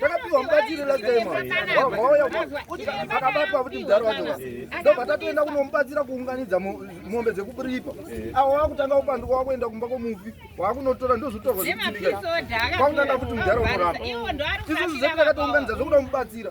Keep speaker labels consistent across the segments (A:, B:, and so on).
A: takapiwa mubatsiri last time wauya akabatwa kuti mudharo wacho ndobva tatoenda kunomubatsira kuunganidza mombe dzekupiripa awo wakutanga kupanduka wakuenda kumba kwomufi wakunotora ndozotorwa kwakunanga kuti mudharo unorapa isusu zvedu takatounganidza zvokuda kumubatsira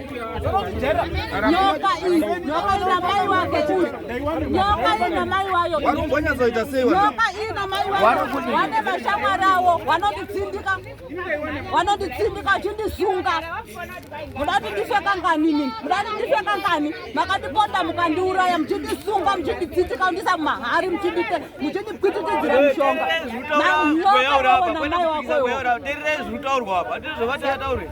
A: wane vashamwari avo wanonditsindika wanonditsindika vachindisunga muda kuti ndife kanganini muda kuti ndife kangani makandiponda mukandiuraya muchindisunga muchinditsindika kundisa mumahari muchindipwititidzira mushonga nyoka wawo namai wakoyo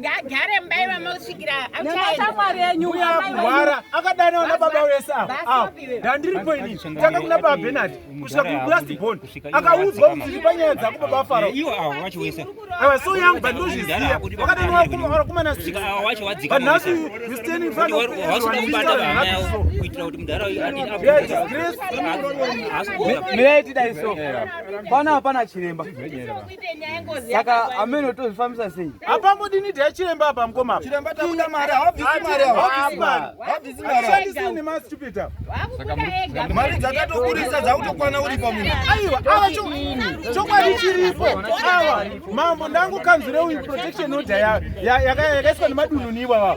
A: ngaagare mumba ivamo kusvikira achaendaamwari enyu uyarwara akadana ona baba wese ava ndandiripo ini tanga kuna baba benard kusvika kulast bon akaudzwa kuti ripa nyaya dzako baba farao ava so yangu but ndozviziva wakadana wakumana sikvanhasi you stand in front of everyone mirai tidai so pana hapana chiremba Saka ameno tozvifambisa sei? Apa modini dai
B: chiremba apa mkoma. Chiremba takuda mari,
C: hawabvisi mari awa. Hawabvisi mari. Hawabvisi mari. Hawabvisi ni ma stupid
B: awa.
C: Mari dzakatokurisa dzakutokwana uri pa munhu. Aiwa, awa cho
B: chokwadi chiripo. Awa mambo ndangu kanzure uyu protection order ya yakaiswa nemadunhu ni iwawa.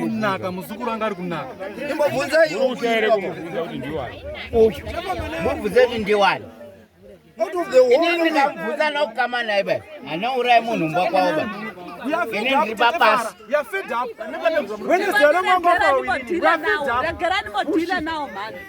D: kunaka
E: muzukuru
B: anga ari kunaka
E: imbobvunzai ndiwani inini ndikabvunza nokukama naye bai anourai munhu mba kwavo bai inini ndiri papasi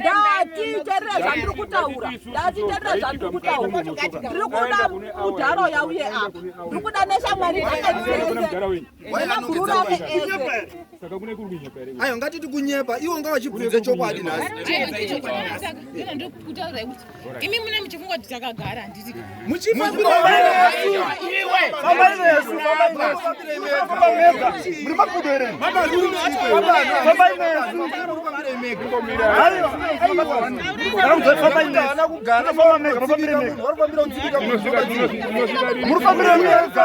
C: ndatiterera zvandiri kutaura ndatiterera zvandiri kutaura ndiri kuda mudharo yauye apa ndiri kuda neshamwari dzakaiseeakurura veese ayo ngatiti kunyepa iwo ngavachibvunze chokwadi nhasi
F: Imi mune muchifungwa kuti
C: takagara handiti murifambira mega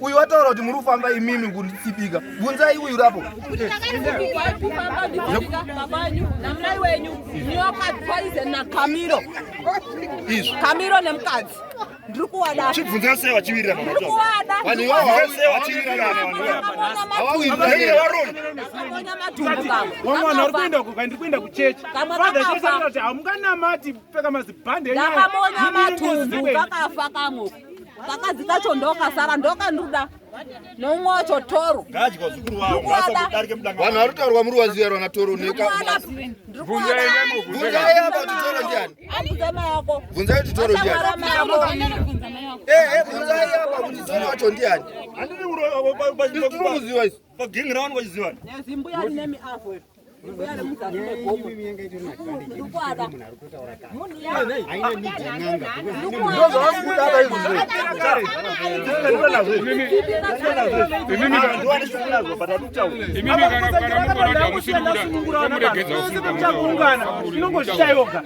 C: uyu wataura kuti muri kufamba imimi kutsipika bvunzai uyu rapo
D: kamiro nemukadzi ndiri kuwada chibvunza sei vachivirira
C: ndiri kuwada vanhu
D: ivavo sei
C: vachivirira havakuiaona matumbu
B: kamwe wamwe vanhu vari kuenda kuka ndiri kuenda kuchechi father chesakati hamunganamati pfeka mazibhande ndakamonya matumbu
D: kakafa kamwe kakadzi kacho ndokasara ndokanduda nomwe wacho toro
C: vanhu vari taurwa muri waziva rwana toro nekabvunzai apa kuti toro ndiani bvunzai kuti toro ndianibvunzai apa kuti toro wacho ndiani tiri kuziva isu inongozvitayoga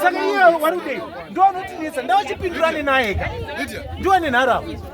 C: saka iye wari kudei ndoonotinetsa ndawachipindurane naye ka ndiwe nenharaunda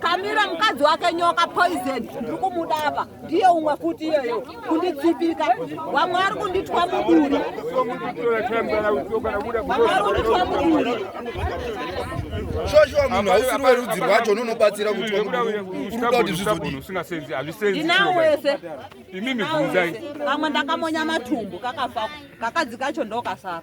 D: Kamira mukadzi wake nyoka poison ndiri kumuda apa ndiye umwe futi iyeyo kunditsipika vamwe vari kunditwa muduri
C: shoshowa munhu hausiri werudzi rwacho unonobatsira kuti urikuda kuti zvizodindinawo
D: wese imimi bvunzai kamwe ndakamonya matumbu kakafa kakadzi kacho ndokasara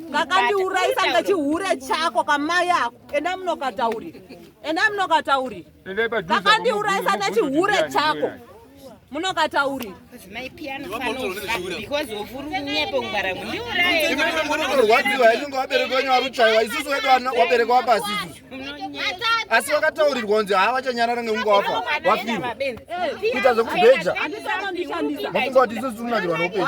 D: kakandiurayisa ngechihure chako kamai ako enda munokataurira enda munokataurira kakandiurayisa nechihure chako
F: munokataurira rwadziwa
C: yainge wabereka wenyu waruchaiwa isusu wedu wabereka wapasi isusu asi wakataurirwa kunzi haa vachanyarara ngekunge wafa wafirwa kuita zvekubheja mafunga kuti isusu tinonakirwa noupenyu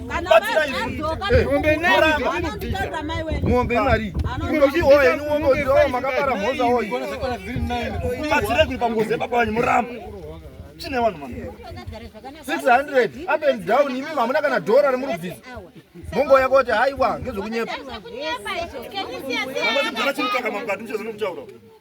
C: mombe imari makapara mhoza oibatsire
G: kuri pangozi epapa vanyu muramba chine vanhu mama 600 up
C: and down imi hamuna kana dhora remuri bvisa mongo yako kuti haiwa ngezvekunyepa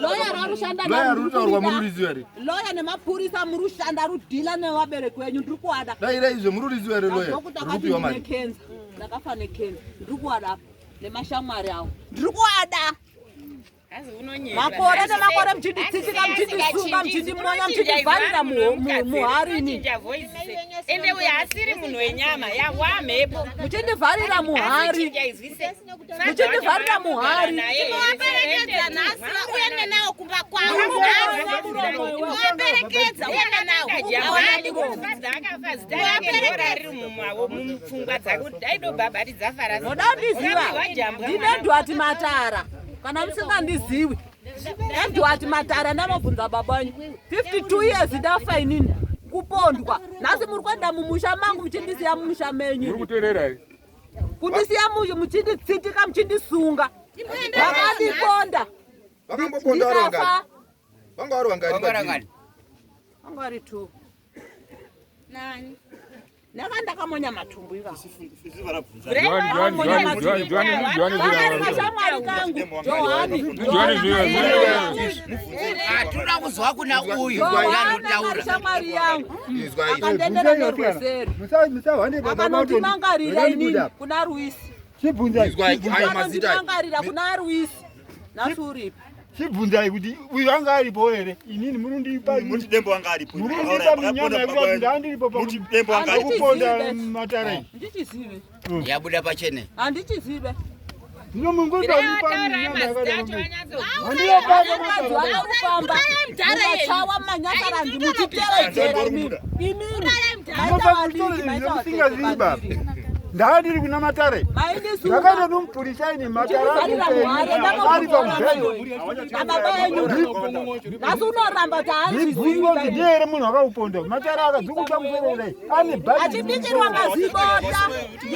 D: loya rarushanda loya rutaurwa mururizi
C: here loya nemapurisa
D: murushanda rudhila nevabereki wenyu ndiri kuada dai dai izvo mururizi here
C: loya rikupiwa mari
D: kenza ndakafa nekenza ndiri kuada apa nemashamwari awo ndiri kuada makore nemakore mchinditsitsika mchindisunga mchindimonya mchindivharira muharini
F: ende uyo asiri munhu wenyama yahwa mhepo muchindivharira
D: muhari muchindivharira muhari tinowaperekedza
F: nhasi uende nawo kumba kwavoaperekedza uende nawoaperekedzaakafaziaaperekedarimumupfungwa dzake kuti daido baba tidzafaraoda ndiziva
D: ndinedwati matara kana musingandiziwi ndedwati matara ndamabvunza baba wenyu 52 years ndafa inini kupondwa nhasi muri kuenda mumusha mangu muchindisiya mumusha menyu kundisiya muyu muchinditsitika muchindisunga vakandiponda ndikafa
C: vanga vari
D: vangani vanga vari two nani ndanga ndakamonya matumbu ivavashamwari kangu
E: johaniatinoda kuzwa kuna uyu anotaura shamwari yangu
D: akandendera nerweseri akanondimangarira inini kuna ruisi akanondimangarira kuna ruisi nhasi uripi
B: chibvunzai kuti uyu anga aripo here inini munondipamundipa
G: minyama
B: yekuti ndandiripo pakuponda
G: matara
B: iyi
D: yabuda pachene handichizive
B: ndaa ndiri kuna matare ndakaita nomupurisa ine mataraaripamueemunhu akakuponda matare akadzikuta musoro kudai achibikirwa
D: mazibota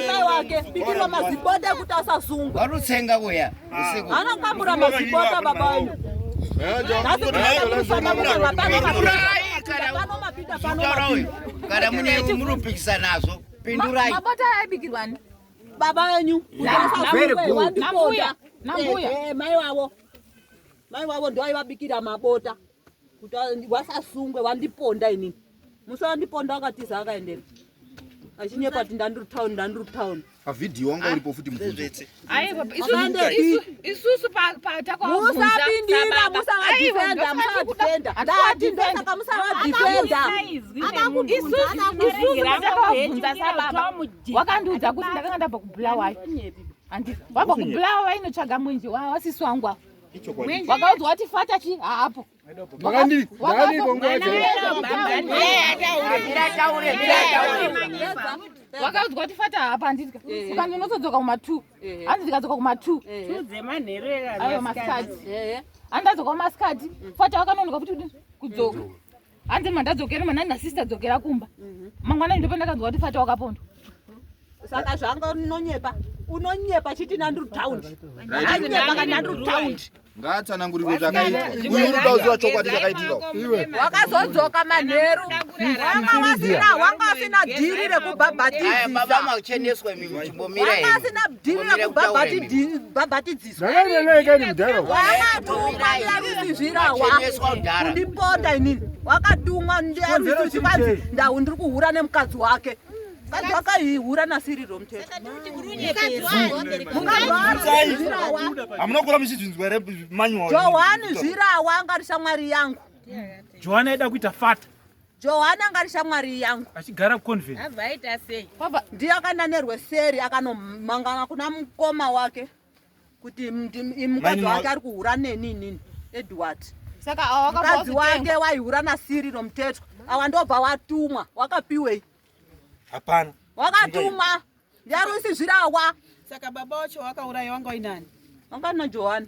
D: mai wake bikirwa mazibota ekuti asazungwa vanotsenga kuya
E: anokambura mazibota
D: baba wenyu
E: kana mune munopikisa nazvo pindurai mabota aibikirwani
D: baba wenyu mai wavo mai wavo ndoaivabikira mabota kuti wasasungwe wandiponda inini musi wandiponda wakatiza akaendera achinyepa kuti ndandiri town ndandiri town pavhidhiyo wanga
C: uripo futi mubvunzoisusu
D: patakwamusavadhifendamusavadhifendamusaka musavadhifendaisusuakakubvunza
F: sababa wakandiudza kuti ndakanga ndabva kubulawayo wabva kubulawayo inotsvaga mwenje wasisi wangu apo vakaudzwa kuti fata chi haapo wakaudzwa kuti fata hapa handidya eh. uka ndinotodzoka kuma two eh. handi ndikadzoka kuma two eh. ayo masikati handi adzoka kumasikati fata wakanonoka kuti kudzoka hanzi mandadzokera manani nasista dzokera kumba mhm. mangwanani ndopa ndakanzwa kuti fata wakapondwa saka
D: zvanga unonyepa unonyepa chiti nandru taundi anyepa kanandru taundi ngaatsanangurire
C: zvakaitika uziva chokwadi chakaitika wakazodzoka
D: manheru wanga wasina wanga wasina dhiri rekubhabhatidzisawanga asina dhiri rekubhabhatidzisa ndipota inini wakatumwa ndiaiikanzi ndau ndiri kuhura nemukadzi wake mukadzi wakaihura nasiriro mutetohamuna
G: kura muchizvinzwa here manyojohani zvirawa
D: angari shamwari yangu johani aida
B: kuita fata johani angari
D: shamwari yangu achigara kuconvent
F: ndiyo akananirwe
D: seri akanomangana kuna mukoma wake kuti mukadzi wake ari kuhura neni inini edward
F: mukadzi wake
D: waihura nasiri romutetwa awa ndobva watumwa wakapiwei hapana
G: wakatumwa
D: ndiari usizvirawa saka baba wacho
H: wakauraiwa ngoinani wangana johani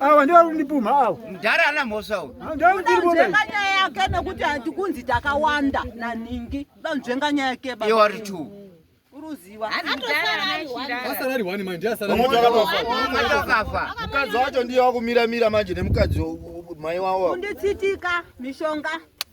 G: awa
B: ndiwo arikundipumha awa mudhara ana mhosva
E: uyu nzvenganya
D: yake nekuti hatikunzi takawanda naningi nzvenga nyaya yake iwo ari two asarari wani manje ndiye
E: asarariakafa mukadzi wacho ndiye
C: wakumira mira manje nemukadzi mai wawo unditsitika
D: mishonga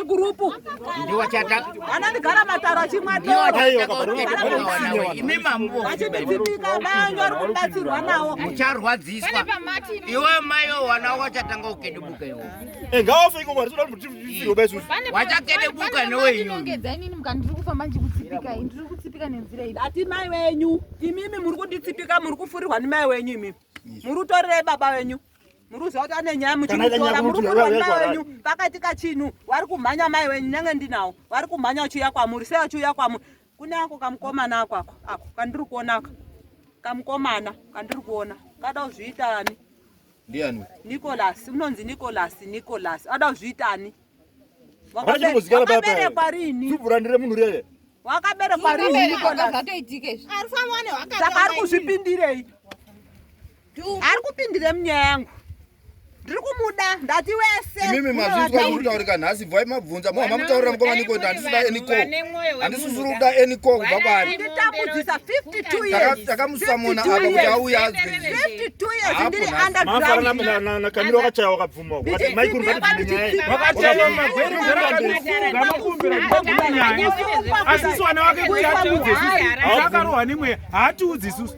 D: igurupu ndiwo chata anandigara mataro achimwa imi mambo achibititika vanhu vari kubatsirwa nawo mucharwadziswa
E: iwe mayo wana wachatanga ukedebuka iwo eh, ngawafe iko mwari toda kuti tifirwe besu wachakedebuka newe inongedzainini mukandiri kufamba ndikutsipika ndiri
D: kutsipika nenzira iyi ati mai wenyu imimi muri kunditsipika muri kufurirwa nemai wenyu imimi muri utorerei baba wenyu muruzi wake ane nyaya muchimutora muri kurwa mai wenyu pakaitika chinhu wari kumhanya mai wenyu nyange ndinawo wari kumhanya uchiuya kwamuri sei uchiuya kwamuri kune ako kamukomana ako ako ako kandiri kuona aka kamukomana kandiri kuona kada kuzviita ani ndiani
C: nicolas
D: unonzi nicolas nicolas ada kuzviita ani wakaberekwa
G: rini wakaberekwa
D: rini nicolas saka ari kuzvipindirei ari kupindire munyaya yangu ndiri kumuda ndati wese imimi mazvinzwa ari
C: kutaurika nhasi bvai mabvunza moha mamutaurira mukomani kuti handisida eniko handisisiri kuda eniko kubva kwaari
D: takamusamona apa
C: kuti auye
D: azweakamira
G: wakachaya wakabvuma
B: asiwana wake kuti atiudze akarohwa nemweya haatiudzi isusu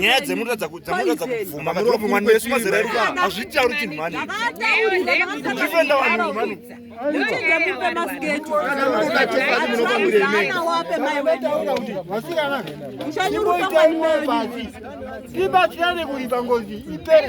G: nyaya dzemunoratidza dzamunoratidza kubvuma muromo mwana wesu mazera edu hazvitauri chinhu mani ndifenda vanhu
B: mani ibatsirane kuipa ngozi ipere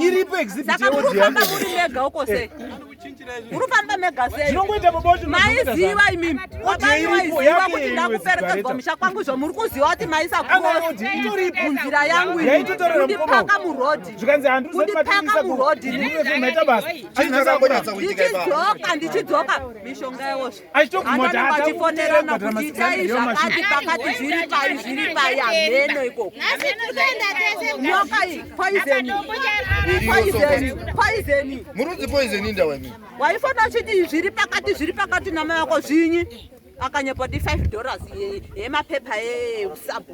D: iripo exhibit
B: yeodziyamufamba muri mega
D: uko sei eh. muri kufamba mega sei zvinongoita baba wacho
B: maiziva imimi
D: wabaaiziva kuti ndakuperekedzwa musha kwangu izvo muri kuziva kuti maisakumunzira yangu indipaka murodhi kundipaka murodhi ndichidzoka ndichidzoka mishonga yewozvo vatifonerana kuti itai zvakati pakati zviri pai zviri pai hameno ikoko nyoka iyi poizeni poizeni poizeni murudzi poizeni
C: ndawani waifanira uchiti
D: zviri pakati zviri pakati namai vako zvinyi akanyepa kuti 5 dollars yemapepa eusabhu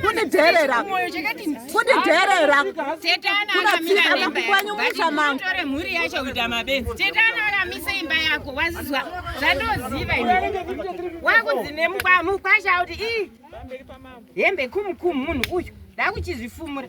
D: kunidherera kunidherera kunatsika vangu kwanyu musha mangu tore mhuri yacho kuita
F: mabenzi tetana akamise imba yako wazizwa zvandoziva wakunzi nemukwasha kuti ii hembe kumukumu munhu uyu ndakuchizvifumura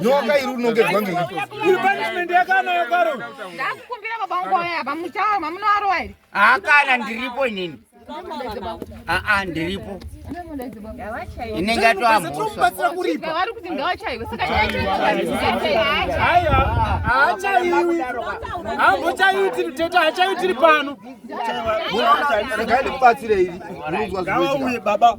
C: nyoka iri unongedzwa ngei iri punishment
B: yakana yakaro ndakukumbira baba
F: wangu waya apa muchawa mamunoarowa here akana ndiripo
E: inini aa ndiripo inenge atoambosavari kuti
F: ngawachaiwe sakaachaiwi
B: ambochaiti mtete achaitiri pano
C: regai ndikubatsire iri unonzwa zvinouye
G: baba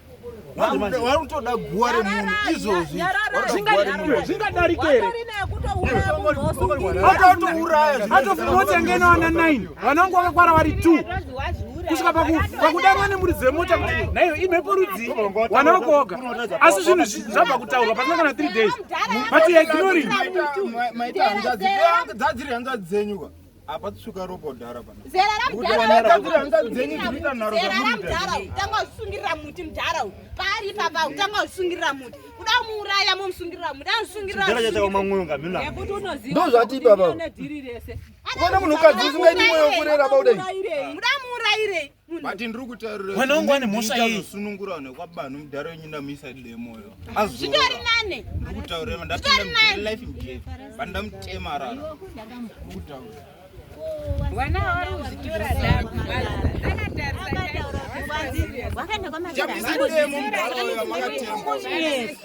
A: warutoda guwa remunhu izvozvi
B: zvingadarikereatourayatourayatotengenawana 9 vanangu vakakwara vari 2 kusvika pakudanwa nemuri dzemota kuti naiyo imhepo rudzii wana wakoga asi zvinhu zvabva kutaurwa pasina kana 3 days but ignoring
A: apa tsuka ropa udhara pana
F: zera ramudhara utanga usungirira muti mudhara uyu paari ipapa utanga usungirira muti kuda muuraya momusungirira muti anozungiriraandozvati
C: ipapa kuona munhukadzi usingaiti mwoyo kurera bauda muda
F: muurayirei but ndiri kutaurira
A: mwana wangu ane mhosva yei
B: sunungura ne kwabana
A: mudhara wenyu ndamuisa demo yo azvitori nane
F: ndiri kutaurira ndapinda
A: mu life mje banda mutema rara ndiri kutaurira
F: wana wari uzitora dako
B: Yes.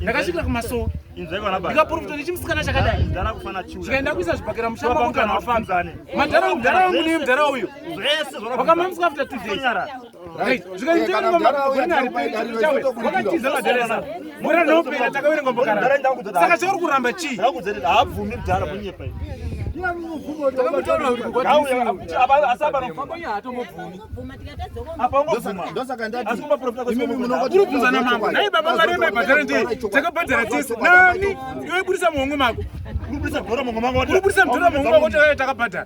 B: ndakasvikira kumasowe ndikaporofita nechimusikana chakadai chikaenda kuisa zvibhakera mushamadhara mudhara uyu vakamamiswa after two days saka chauri kuramba chii urikubvunzana
G: mambo nai
C: baba mari
B: yemaibhadhara ndei takabhadhara tese nani iwe budisa muhongo mako urikubudisa mdhora muhongo mako takabhadhara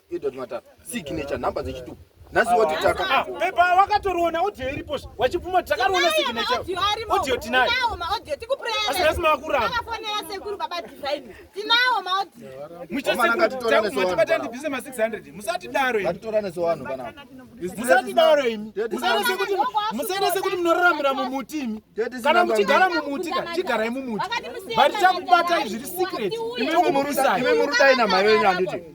C: Edward Matara signature number dzechitupa nhasi woti taka ah, pepa wakatoriona
B: audio iripo wachibvuma takariona signature audio tinayo
F: asi nhasi makuramba muchasekumatibata
B: ndibvise ma 600 musatidaro
C: musatidaro
B: imi musaita sekuti munoraramira mumuti imi kana muchigara mumuti ka chigarai mumuti but takubata zviri secret imwe murudai namai venyu
C: anditi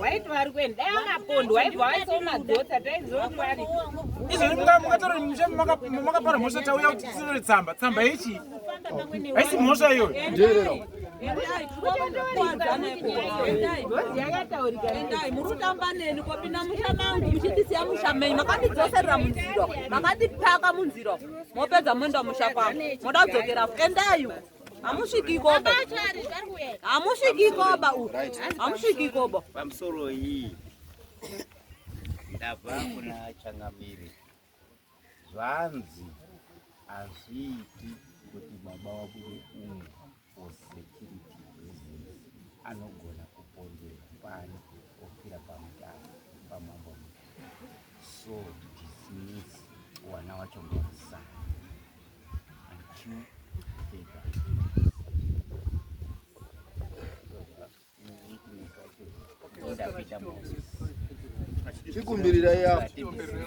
F: waiti vari kuenda dai akapondwa aibva waisa madhota taizomwari izvozvi mungatora
B: musha makapara mhosva tauya kuti tisinore tsamba tsamba yechi haisi mhosva iyoyo
D: murutamba neni kopinda musha mangu muchindisiya musha menyu makandidzoserera munziro makandipaka munziro mopedza moenda musha kwangu moda kudzokera endayu Hamusvikikoba. Hamusvikikoba uyu. Hamusvikikoba. Pamusoro iyi
E: ndabva kuna changamire zvanzi hazviiti kuti baba wabude umu for security reasons anogona kupondera pani ofira pamutano pamambo so dismiss wana wacho ngosana Chikumbirira
C: yapo. Chikumbirira.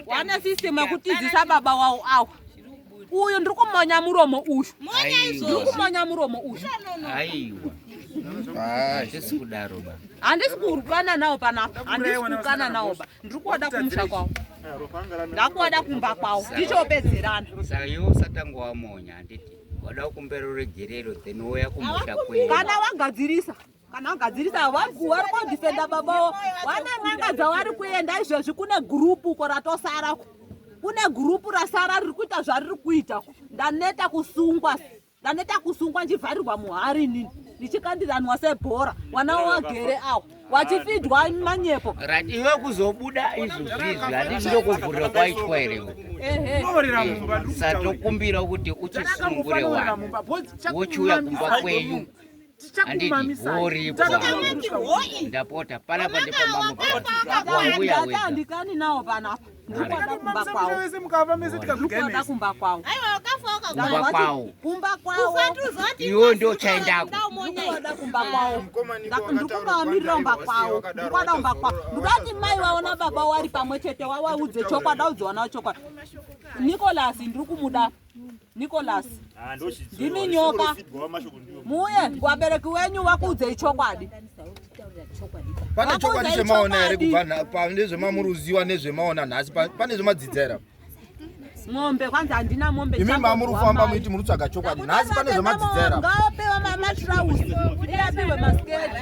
D: wane system yekutizisa baba wawo awa uyu ndiri kumonya muromo uyu ndiri kumonya muromo uyu
E: handisi kudaro ba handisi kurukana
D: nawo panapa handisi kurukana nawo ba ndiri kuoda kumusha kwawo ndakuoda kumba kwawo ndichopedzerana saka iwe
E: usatanga wamonya handiti wada kukumbera ruregerero then woya kumusha kwedu kana wagadzirisa
D: kana agadzirisa wangu wari kudifenda babawo wane n'anga dzawari kuenda izvezvi kune gurupu uko ratosara ku kune gurupu rasara riri kuita zvariri kuita ku ndaneta kusungwa ndaneta kusungwa ndichivharirwa muhari inini ndichikandiranwa sebhora mwana wagere awo wachifidwa manyepo right iwe
E: kuzobuda izvozvizvi handiti ndokuvhurira kwaitwa here satokumbira kuti uchisungure wani wochiuya kumba kwenyu ndapota panapa ndipamamandikani nawo
D: panapa ndikuada kumba kwawoada kumba
E: kwawo kumba kwawo
D: iwo ndo
E: chaendakooada kumba
D: kwawo ndikumamirira umba kwawo ndikuada umba kwawo ndikati mai waona baba wari pamwe chete wawaudze chokwadi audziwanawo chokwadi nikolasi ndiri kumuda Nicholas ah, ndimi nyoka muuye wabereki wenyu vakuudzei chokwadi
C: pane chokwadi zvemaona here kubva pane zvemamuruziwa nezvemaona nhasi pane zvemadzidza here
D: mombe kwanzi handina mombe imi mamuri kufamba muiti
C: muri kutsvaga chokwadi nhasi pane zvemadzidzera ngaopewa
D: matrausi iapihwe masketi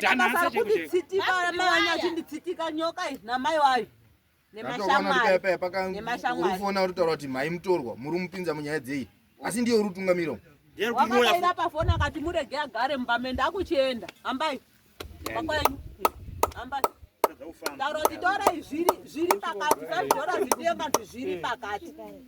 B: Kana
D: kunditsitibara mai vachinditsitibara nyoka izvi namai wayo nemashamaurikuona
C: uri taura kuti mhai mutorwa muri mupinza munyaya dzei asi ndiye uri kutungamira wakaenda
D: pafoni akati murege agare mumba mende akuchienda hambai kwakwenyu hambai taura kuti tora zviri pakati zvaizora zvidiyo kati zviri pakati